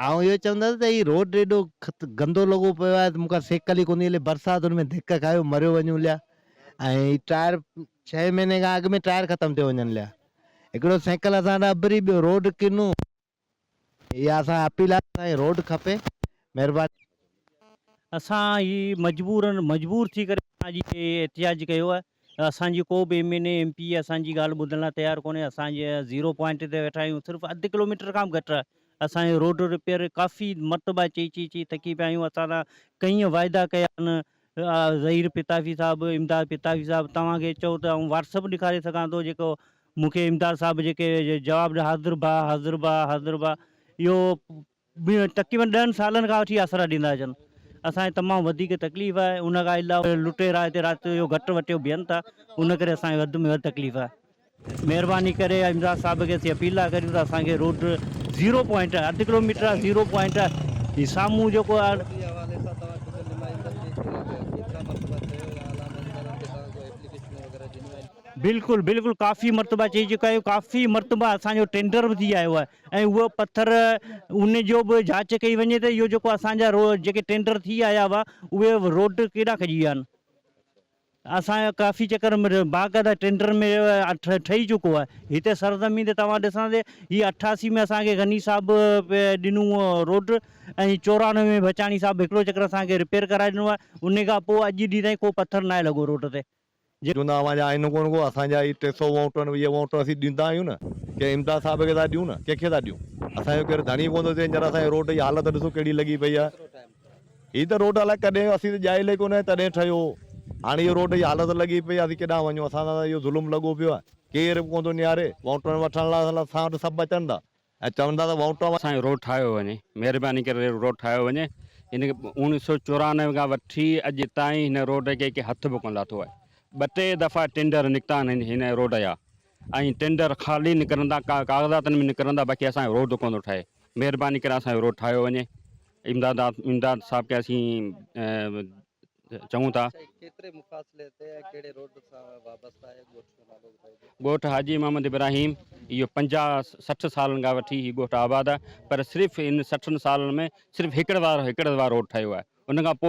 آئون اهو چوندس ته هي روڊ ايڏو گندو لڳو پيو آهي ته مون کان سيڪل ئي ڪونهي هلي برساتن ۾ ڌڪ کايو مريو وڃون ليا ۽ ٽائر ڇهين مهيني کان اڳ ۾ ٽائر ختم ٿيو وڃن ليا هڪڙو سيڪل اسان ڏانهن اڀري ٻيو روڊ ڪنو اها اسان اپيل آهي اسان کي روڊ کپي مهرباني. اسان هي مجبورا مجبور ٿي ڪري اسان جي احتجاج ڪيو آهي اسان جي ڪو به M N A M P A اسان جي ڳالهه ٻڌڻ لاء تيار ڪونهي اسان جي زيرو پوائنٽ تي ويٺا آهيون صرف اڌ ڪلو ميٽر کان به گهٽ اسان جي روڊ رپيئر ڪافي مرتبا چئي چئي چئي ٿڪي پيا آهيون اسان سان ڪئين واعدا ڪيا آهن ظهير پتافي صاحب، امداد پتافي صاحب توهان کي چئو ته آئون واٽس اپ ڏيکاري سگهان ٿو جيڪو مون کي امداد صاحب جيڪي جواب ڏ حاضر ڀاء حاضر ڀاء حاضر ڀاء اهو تقريبن ڏهن سالن کان وٺي آسرا ڏيندا اچن اسان کي تمام وڌيڪ تڪليف آهي ان کان علاوه لٽيرا هتي رات جو گهٽ وٽيو بيهن ٿا ان ڪري اسان کي وڌ ۾ وڌ تڪليف آهي. مهرباني ڪري امداد صاحب کي اسين اپيل ٿا ڪريون ته اسان کي روڊ زيرو پوائنٽ اڌ ڪلو ميٽر آ زيرو پوائنٽ جي سامهون جيڪو آ بلڪل بلڪل ڪافي مرتبا چئي چڪا آهيون ڪافي مرتبا اسان جو ٽينڊر به ٿي آيو آهي ۽ اهو پٿر ان جو به جاچ ڪئي وڃي ته اهو جيڪو اسان جا روڊ جيڪي ٽينڊر ٿي آيا هئا اهي روڊ ڪيڏا کڄي ويا آهن اسان جو ڪافي چڪر باقاعده ٽينڊر ۾ ٺهي چڪو آهي. هتي سرزمين تي توهان ڏسندي هي اٺاسي ۾ اسان کي غني صاحب ڏنو هو روڊ ۽ چورانوي ۾ بچاڻي صاحب هڪڙو چڪر اسان کي رپيئر ڪرائي ڏنو آهي انهي کان پوء اڄ ڏينهن تائين ڪو پٿر ناهي لڳو روڊ تي جيڪو چوندا اوهان جا آئينو ڪونه ڪو اسان جا هي ٽي سؤ ووٽ آهن ويهه ووٽ اسين ڏيندا آهيون نه ڪنهن امداد صاحب کي ٿا ڏيون نه ڪنهن کي ٿا ڏيون اسان جو ڪير ڌڻي ڪونه ٿو اچي هينئر اسان جي روڊ جي حالت ڏسو ڪهڙي لڳي پئي آهي. هي ته روڊ الائي ڪڏهن اسين تي ڄائل ئي ڪونه تڏهن ٺهيو هاڻي اهو روڊ جي حالت لڳي پئي آهي اسين ڪيڏانهن وڃون اسان سان ته اهو ظلم لڳو پيو آهي ڪير به ڪونه ٿو نهاري ووٽون وٺڻ لاء سلا اسان وٽ سڀ اچن ٿا ۽ چون ٿا ته ووٽون اسان جو روڊ ٺاهيو وڃي مهرباني ڪري روڊ ٺاهيو وڃي ان کي اوڻيھ سؤ چورانوي کان وٺي اڄ تائين هن روڊ کي ڪنهن هٿ به ڪونه لاٿو آهي ٻه ٽي دفعا ٽينڊر نڪتا آهن هن روڊ جا ۽ ٽينڊر خالي نڪرن ٿا ڪاغذاتن ۾ نڪرن ٿا باقي اسان جو روڊ ڪونه ٿو ٺهي مهرباني ڪري اسان جو روڊ ٺاهيو وڃي امداد امداد صاحب کي اسين چئون ٿا. سائين ڪيتري مفاصلي تي ۽ ڪهڙي روڊ سان وابسته آهي ڳوٺ جو نالو ٻڌائجو. ڳوٺ حاجي محمد ابراهيم اهو پنجاهه سٺ سالن کان وٺي هي ڳوٺ آباد آهي پر صرف ان سٺن سالن ۾ صرف هڪڙ وار هڪڙ وار روڊ ٺهيو آهي ان کان پوء